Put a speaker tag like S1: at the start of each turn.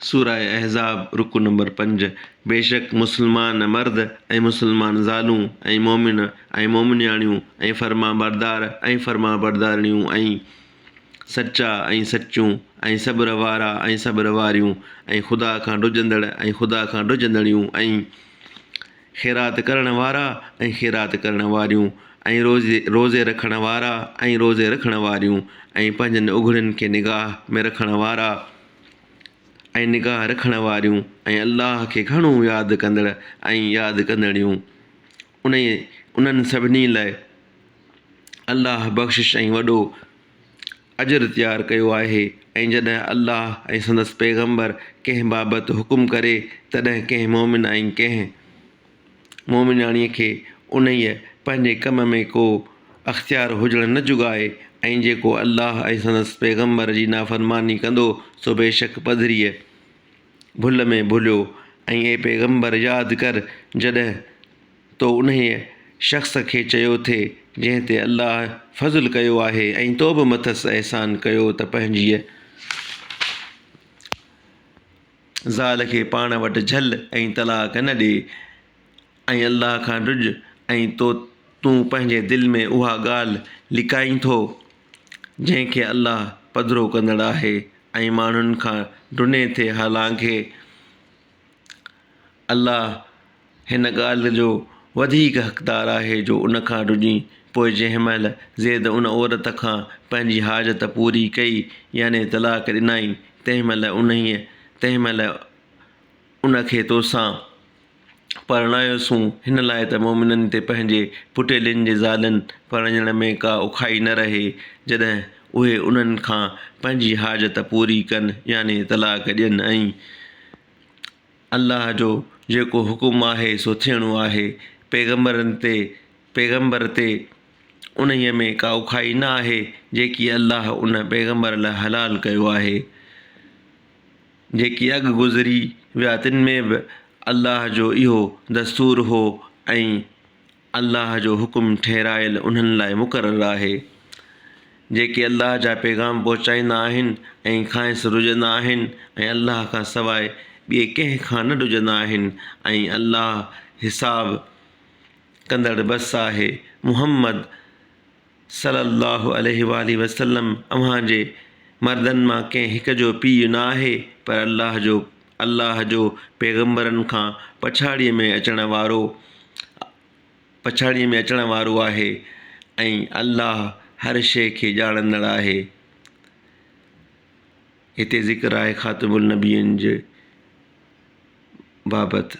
S1: سوره احزاب، رڪوع نمبر پنج، بيشڪ مسلمان مرد ۽ مسلمان زالون ۽ مؤمن ۽ مؤمنياڻيون ۽ فرمانبردار ۽ فرمانبردارڻيون ۽ سچا ۽ سچيون ۽ صبر وارا ۽ صبر واريون ۽ خدا کان ڊڄندڙ ۽ خدا کان ڊڄندڙيون ۽. خيرات ڪرڻ وارا ۽ خيرات ڪرڻ واريون ۽ روزي روزي رکڻ وارا ۽ روزي رکڻ واريون ۽ پنهنجن اگهڙين کي نگاهه ۾ رکڻ وارا ۽ نگاهه رکڻ واريون ۽ الله کي گهڻو ياد ڪندڙ ۽ ياد ڪندڙيون انهي انهن سڀني لاء الله بخشش ۽ وڏو اجر تيار ڪيو آهي ۽ جڏهن الله ۽ سندس پيغمبر ڪنهن بابت حڪم ڪري تڏهن ڪنهن مؤمن ۽ ڪنهن مؤمناڻيء کي انهيء، پنهنجي، ڪم ۾ ڪو اختيار هجڻ نه جوڳائي ۽ جيڪو الله ۽ سندس پيغمبر جي نافرماني ڪندو سو بيشڪ پڌريء، ڀل، ۾ ڀليو ۽، اي پيغمبر، ياد ڪر جڏهن، تو انهيء شخص کي چيو ٿي جنهن تي الله فضل ڪيو آهي ۽ تو به مٿس احسان ڪيو ته پنهنجيء زال کي پاڻ وٽ جهل ۽ طلاق نه ڏي ۽ الله کان ڊڄ ۽ تو تون پنهنجي دل ۾ اها ڳالهه لڪائين ٿو جنهن کي الله پڌرو ڪندڙ آهي ۽ ماڻهن کان ڊني ٿي حالانڪه الله هن ڳالهه جو وڌيڪ حقدار آهي جو ان کان ڊڄي پوء جنهن مهل زيد ان عورت کان پنهنجي حاجت پوري ڪئي يعني طلاق ڏنائين تنهن مهل انهيء تنهن مهل ان کي توسان پرڻايوسون هن لاء ته مؤمنن تي پنهنجي پٽيلين جي زالين پرڻيڻ ۾ ڪا اوکائي نه رهي جڏهن اهي انهن کان پنهنجي حاجت پوري ڪن يعني طلاق ڏين ۽ الله جو جيڪو حڪم آهي سو ٿيڻو آهي پيغمبرن تي پيغمبر تي انهيء ۾ ڪا اوکائي نه آهي جيڪي الله ان پيغمبر لاء حلال ڪيو آهي جيڪي اڳ گذري ويا تن ۾ به الله جو اهو دستور هو ۽ الله جو حڪم ٺهرايل انهن لاء مقرر آهي، جيڪي الله جا پيغام پهچائيندا آهن ۽ کانئس رجندا آهن ۽ الله کان سواء ٻئي ڪنهن کان نه ڊڄندا آهن ۽ الله حساب ڪندڙ بس آهي، محمد، صلّي اللّٰه عليه واٰله وسلّم اوهان جي مردن مان ڪنهن هڪ جو پيء نه آهي پر الله جو الله جو پيغمبرن کان پڇاڙيء ۾ اچڻ وارو پڇاڙيء ۾ اچڻ وارو آهي ۽ الله هر شيء کي ڄاڻندڙ آهي هتي ذڪر آهي خاتم النبين جي بابت